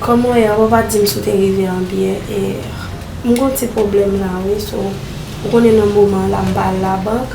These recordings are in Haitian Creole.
Koman ye ou pa dim si ou te rive an byen hier. M gen yon ti pwoblèm la wi so ou konnen nan moman la m pa al labank.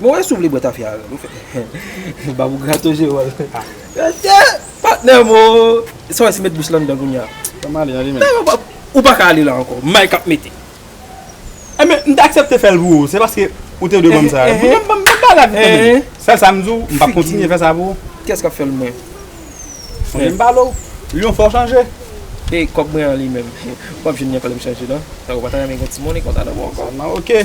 Bon e si w vle bwè tafya avè m? Babou grato je wòl. Atè! Patnè m o! E sa w wè si m met bouch lan anndan kounya? Fè m ale ale menm. Nan nan, ou pa ka ale la ankò. M may k ap mete. Enben, m te aksepte fè l pou ou. Se paske ou te dwe ban m sa. Enhen. Ban m ba l ak ou tanpri. Enhen. Sèl sa m di w, m p ap kontinye fè sa pou ou. Kiyès k ap fè l mwen? Sonje m pale w. Lyon fè w chanje. E kòb mwen an li menm? M p ap jwenn li ankò lè m chanje nan. Sa w pa ta renmen gen timoun e konsa nan men w ankò? Sa nan oke.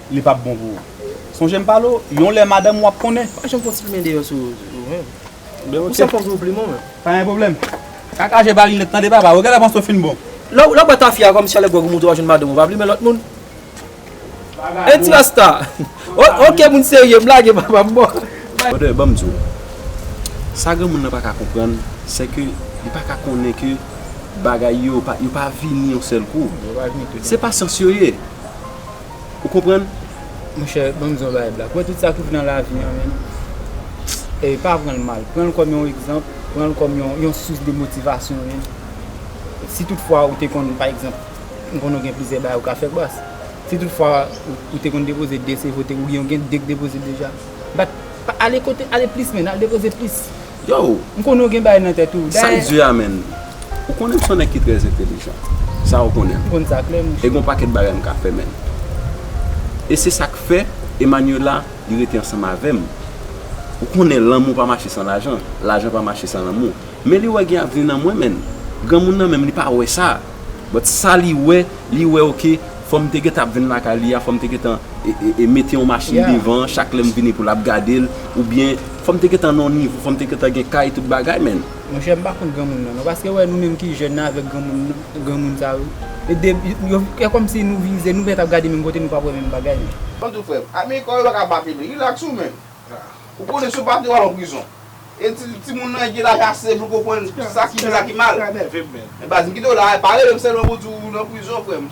li pap bon pou ou. Sonje m pale w, yon lè madanm ou ap konnen. Pa janm fon ti plimen deyò sou ou menm. Ou sèl fòm sou ou plimon menm. Pa gen pwoblèm. Kaka je pa linèt tande papa. Ou genlè panse ou fin bon. Lè w bwè tafya kòmsi alè gwòg ou moute w al jwenn madanm ou pa plimen lòt moun. Hein ti rasta. Ok moun serye m lage papa m bon. Brother banm di w. Sa granmoun nan pa ka konprann se ke li pa ka konnen ke bagay yo yo pa vini yon sèl kou. Se pasyans yo ye. Ou konprann? Monchè, banm di yon bagay Black. Wè tout sa ki pou nan lavi an menn, ey, pa pran'l mal. Pran'l kòm yon egzanp, pran'l kòm yon sous de motivasyon menn. Si tout fwa ou te konn, pa egzanp, m konnen ou gen plizyè bagay ou ka fè bas. Si tout fwa ou te konn depoze 2 CV ou gen 2 k depoze deja. Bat, ale kote, ale plis menn, al depoze plis. Yow! M konnen w gen bagay nan tèt ou. Dayè. San Dye a menn. Ou konnen m s on nèg ki trè entelijan. Sa ou konnen m. M konn sa klè monchè. E gen on pakèt bagay m ka fè menn. E se sa k fè Emmanuela li rete ansanm avè m. Ou konnen lanmou pa mache san lajan. Lajan pa mache san lanmou. Men li wè gen avni nan mwen menn. Granmoun nan menm li pa wè sa. But sa li wè, li wè ok fò m te gentan ap vin lakay li a, fò m te gentan mete on machin devan chak lè m vini pou l ap gade l oubyen. Fòm te gentan nan yon nivo, fòm te gentan gen kay tout bagay menn. Monchè m pa kont granmoun nan non paske wè nou menm ki jèn nan avèk granmoun granmoun sa yo e de yo fè kòmsi nou vize nou mèt ap gade menm kote nou pap wè menm bagay men. An tou frèm, ami kòw yo pa ka bape li, relax ou menm. Ou konnen si w bape yo al an prizon. E ti timoun nan gen laj ase pou l konprann sa ki byen sa ki mal. Men baz m kite w la, pa rele m sèlman pou di w nan prizon frèm.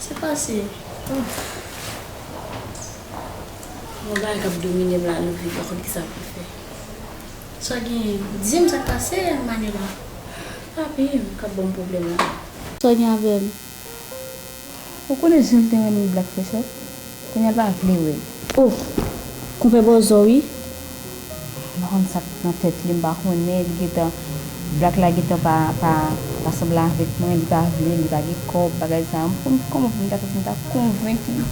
Se pase oh. Yon bagay kap dominem la nou viv pakonn kisa poun fè sa genyen dim sak pase Manuela papim kap banm problème la. Sa gen avèm. Ou konnen janm te renmen black fè sa. Kounya l pa vle wè l. Oh! Konpè bòzò wi. M pa konn sa k nan tèt li m pa konnen li gentan black la gentan pa pa sanble avèk mwen li pa vle li pa gen kòb bagay sa m konn kòman pou m ta fè pou m ta konvenk li.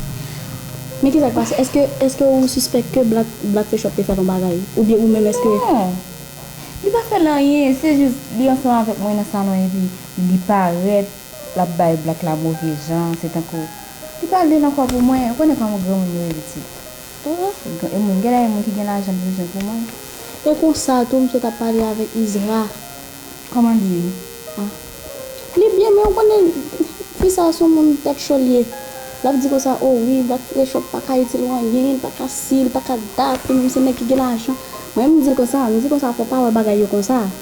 Men kisa k pase èske èske ou sispèk ke black black te chòk te fè l yon bagay oubyen ou menm èske. Non li pa fè l anyen se jis li ansanm avèk mwen nan salon epi li parèt. Lap bay black la move jan se tankou li pa lil ankò pou mwen ou konnen kòman granmoun yo ye pitit ooh e moun gèlè gen moun ki gen lajan li bezwen pou mwen. E konsa tou misye tap pale avèk Isra. Kòman li ye ah. Li byen men ou konnen fi sa son moun tèt cho li ye lap di konsa oh wi black frechop paka itil ou anyen li paka si li paka dat li menm se nèg ki gen lajan mwen menm mdil konsa mdi konsa fò pa wè bagay yo konsa.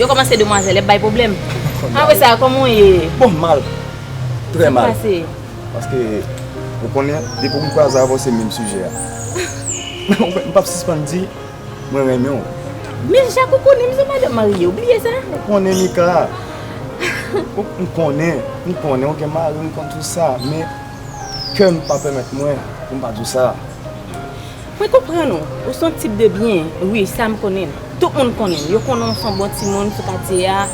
Yo komanse demwazel yap bay problem. Anmwey sa koman w ye. Bon mal tre mal. Kisa se. Paske ou konnen depi ou m kwaze avè w se menm sijè a. M pap sispann di mwen renmen w. Men jak ou konnen m se madanm marye ou bliye sa. Ou konnen Mika. M konnen m konnen ou gen mari m konn tout sa men kè m pa pemet mwen pou m pa di w sa. Mwen konprann ou, ou son tip de byen wi sam konnen, tout moun konnen, yo konnen ou son bon timoun sou katye a,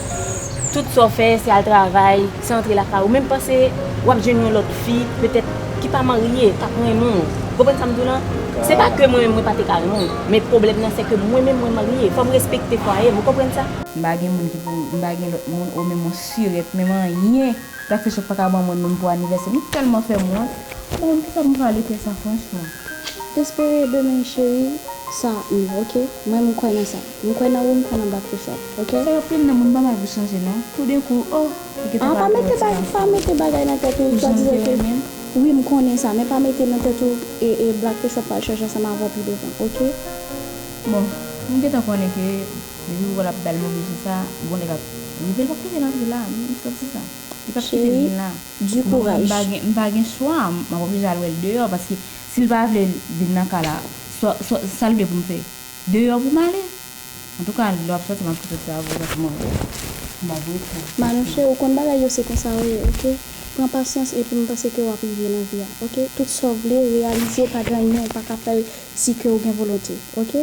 tout sa w fè se al travay, se antre lakay ou, menm panse wap jwenn yon lòt fi petèt ki pa marye kap renmen w, ou konprann sam di w lan, se pa ke mwen menm mwen pa te ka renmen w, men pwoblèm nan se ke mwen menm mwen marye, fòm respekte fwaye m ou konprann sa. M pa gen moun ki pou, m pa gen lòt moun ou menm ou sirèt, menm anyen lap fè sòt paka ban mwen menm pou anivèsè m, ou tèlman fèm wont, bon kisa m pwale fè sa franchman. Espere demen cheri sa m ok mwen m kwè nan sa m kwè nan ou m kwè nan black Fuchsia ok. Fè anpil nan moun pa bay pou chanje non tou den kou oh li gentan pa vle wè ti gason pa mete bagay nan tèt ou swa dizan ke wi m konnen sa men pa mete nan tèt ou e black Fuchsia pral chanje ansanm avèw pi devan ok. Bon m gentan konnen ke depi ou wèl ap bèl move je sa bon nèg ap rive l pap kite l antre la m santi sa li pap kite l vin la. Du courage. Bon m pa gen chwa m ap oblije al wè l deyò paske si l pa vle vin nan ka la sa l vle pou m fè? Deyò pou m ale? Antouka lè w ap sòti m ap kite travay yo paske m ap m ap wè sa. Manouche ou konn bagay yo se konsa yo ye ok pran pasyans epi m panse ke w ap rive nan vi a ok tout sa w vle reyalize pa gen anyen ou pa ka fè l si ke ou gen volonte ok.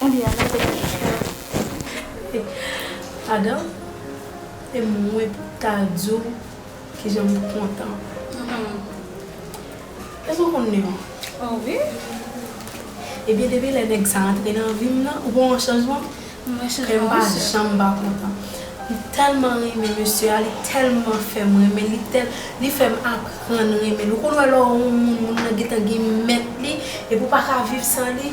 Ebyen Ana te gen chans. Padan e mwen pou ta di w kijan m kontan. Èske w konn Neon? O wi! Ebyen depi lè nèg sa antre nan vi m nan, ou pa wè yon chanjman? M wè chanjman wi sè. Kè m pa janm pa kontan. M tèlman renmen mesye a, li tèlman fè m renmen l, li fè m aprann renmen l. Ou konn wè lè w yon moun, moun nan gentan gen mèt li, epi ou pa ka viv san li?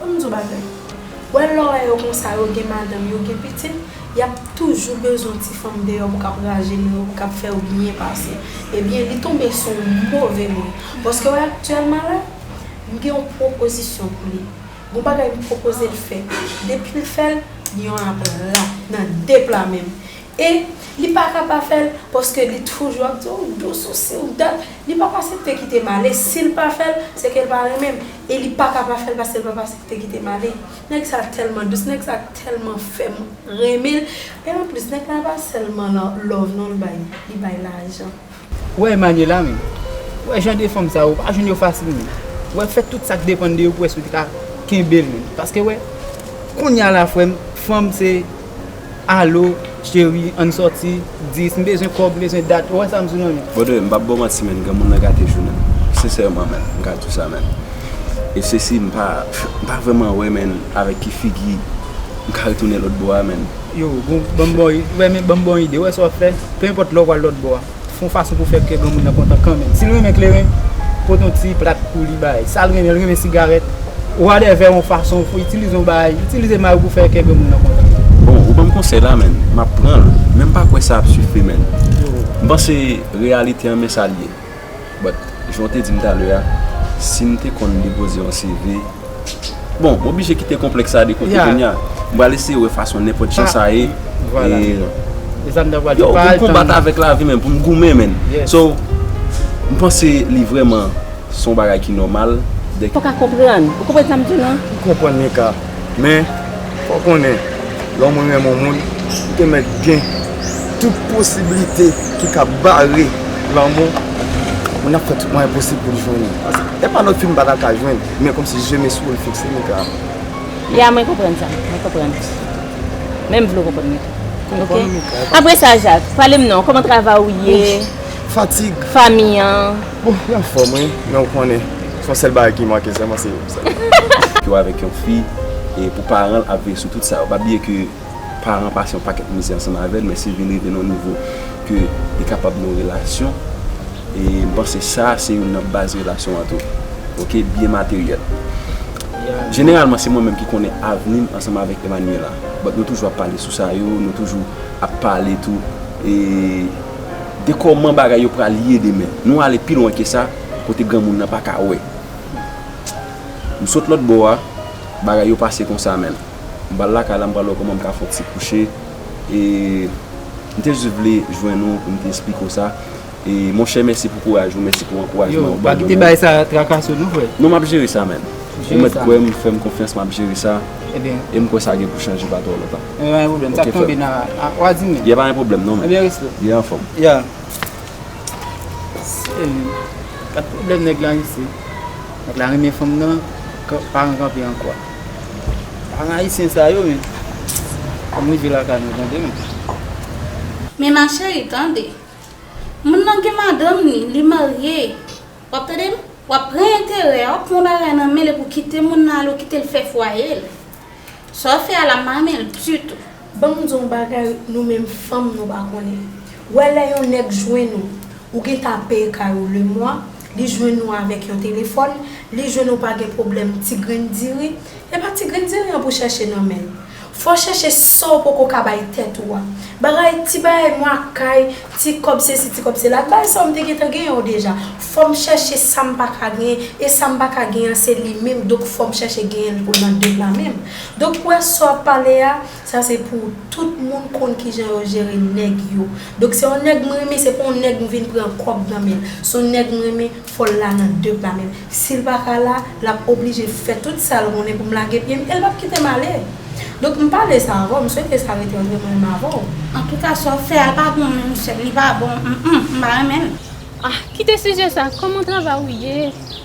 Bon m di w bagay. Wè lè w wè yo konsa yo gen madanm yo gen pitit yap toujou bezwen ti fanm deyò pou kap rajeni yo pou kap fè yo byen pase ebyen li tonbe sou w move moun paske wè aktyèlman la m gen yon pwopozisyon pou li gon bagay m pwopoze l fè depi l fè l lyon ap la nan 2 pla men m e li pa ka pa fè l paske li toujou ap di w dous ou si ou dat li pap asepte kite m ale si l pa fè l se ke l pa renmen m. E li paka pa fèl paske papa se li te kitem ale. Nèg sa tèlman dous, nèg sa tèlman fèm renmenl. E anplis nèg la pa sèlman lan love non li bay, li bay lajan. Ou wè Emmanuela menm? Ou wè jan de fanm sa yo, ou pa jwenn yo fasil menm. Ou wè fè tout sak depann de yo pou wè si ou te ka kenbel menm. Paske ou wè, kounya la frèm, fanm se. Allo cheri ann sòti 10 m bezwen kòb m bezwen dat ou wè sa m sou nan men. Brother m pap baw manti menn granmoun nan gate jounen m sincèrement menn m ka di sa menn e sesi m pa m pa vrèman wè menn avèk ki figi m ka retounen lòtbò a menn. Yo, bon, banm bon ide, ou wè sa wap fè, peu importe lè ou pral lòtbò a. Se yon fason pou fè kè granmoun nan kontan kanmenm. Si l renmen kleren, pote yon ti plat pou li bay. Sa l renmen, l renmen sigarèt, wadèvè yon fason pou itilize yon bagay, itilize may ou pou fè kè granmoun nan kontan. Bon, ou ban m konsèy la menn, m ap pran l, men m pa kwè sa ap sifi menn. M panse reyalite an men sa l ye. But, jan w te di m talè a, si m te konn depoze yon CV. Bon, m oblije kite konplèks sa a de kote kounye a. M pral eseye wè fason nenpòt jan sa ye. Yo, pou m konbat avèk lavi menn, pou m goumen menn. So, m panse li vrèman se yon bagay ki nòmal. Ou pa ka konprann. Ou konprann sa m di w lan? M konprann Mika. Men, fò w konnen, lè yon moun renmen yon moun, li te mèt gen tout posiblite ki ka bare lanmou moun nan ap fè tout mwayen posib pou l jwenn li. Paske, e pa lòt fi m pa ta ka jwenn. Men kom si je Mesi ou fikse Mika a. Ya mwen konprann sa, mwen konprann. Men m vle w konprann mwen tou. Konprann Mika. Apre sa Jak, pale m non, koman travay ou ye? Fatig. Fanmi an? Bon, yo anfom wi, men ou konnen, se yon sel bagay ki manke selman se yo. Yo avek yon fi e pou paran l ap veye sou tout sa yo. Pa bliye ke. paran pase yon pakèt mizè ansanm avèl men si vin rive nan yon nivo ke li kapab gen yon relasyon e m panse sa se youn nan baz relasyon an tou ok byen materyèl jeneralman se mwen menm ki konnen avni m ansanm avèk Emmanuella but nou toujou ap pale sou sa yo nou toujou ap pale tou e de kòman bagay yo pral ye demen nou ale pi lwen ke sa kote granmoun nan pa ka wè m sot lòtbò a bagay yo pase konsa menn. m pral lakay la m pral wè kòman m ka fè yon ti kouche e m te jis vle jwenn ou pou m te esplike w sa e monchè mèsi pou kouraj ou mèsi pou ankourajman ou ba mwen nan. Non m ap jere sa menn ou mèt kwè m fè m konfyans m ap jere sa e m kwè sa gen pou chanje pa twò lontan ok frè m y a pa gen pwoblèm non menn y anfòm. Paran ayisyen sa yo men. Ann rive lakay mwen tande m. Men ma chérie tande. Moun nan gen madanm li, li marye. Wap tande m? Wap pran enterè a, wap pran yon bagay nan men l epi w kite moun nan ale, w kite l fè fwaye l. Sa w fè a la m pa renmen l ditou. Banm di w bagay nou menm fanm nou pa konnen wè lè yon nèg jwenn ou ou gen ta peye kay ou le mwa li jwenn ou avèk yon telefòn li jwenn ou pa gen pwoblèm ti grenn diri e pa ti grenn diri an pou chèche nan men l fò chèche sa w poko ka bay tèt ou a bagay ti bagay mwa kay ti kòb sesi ti kòb sela bay sa w m te gentan gen yo deja fò m chèche sa m pa ka genyen e sa m pa ka genyen an se li menm donk fò m chèche genyen l pou l nan 2 pla menm. Doc ou wè sa wap pale a, sa se pou tout moun konn kijan yo jere nèg yo. Doc se yon nèg m renmen se pa yon nèg m vin pran kòb nan menl. Se yon nèg m renmen fòl la nan de pa menm. Sil pa ka la, lap oblije fè tout sal konnen pou m lage pye m e l pap kite m ale. Doc m pale sa avèw, m swete sa rete antre mwen menm avèw. Antouka sa w fè a pa bon non sèm, li pa bon, m m pa renmen l. Ah kite sijè sa, kòman travay ou ye?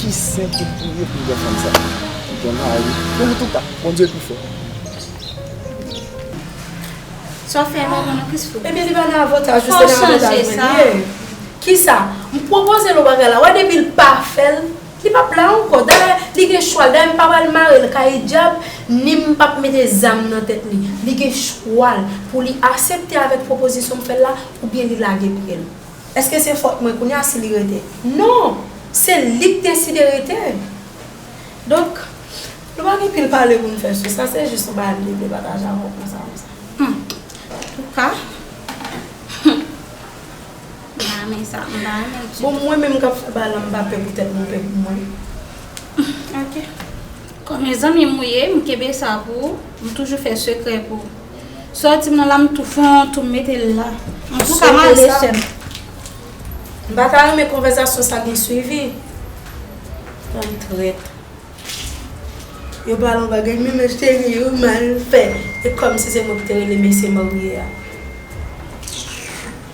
Ki sen ki priye pou jan fanm sa. Ki gen mari. Bon an touka Bondye pi fò. Sa w fè a pa bon non kris fou. Ebyen li pa nan avantaj ou se nan avantaj mwen li ye. Kisa? M pwopoze l yon bagay la wè depi l pa fè l li pap la ankò dayè li gen chwa l dayè m pa pral mare l kay dyab ni m pap mete zam nan tèt li li gen chwa l pou li asepte avèk pwopozisyon m fè l la oubyen li lage pye l. Eske se fòt mwen kounya si li rete? Non! Se li k deside rete! Donk, nou pa gen pil pale pou n fè sou sa, se jis yon bagay m te vle pataje avè w konsa konsa. Hum! Antouka, hum! M pa renmen sa, m pa renmen l ditou. Bon, mwen menm k ap fè bagay la, m pa pè pou tèt mwen, m pè pou mwen. Hum! Ok. Kòm e zanmi m ou ye, m kenbe sa pou ou, m toujou fè sekrè pou. Soti m nan la m tou fè yon tou m mete l la. Antouka m ale sè m. M pa ta renmen konvèzasyon sa gen swivi. Fanm trèt. Yo pale yon bagay men men cheri ou mal fè. E kòmsi se mwen ki te rele mesye marye a.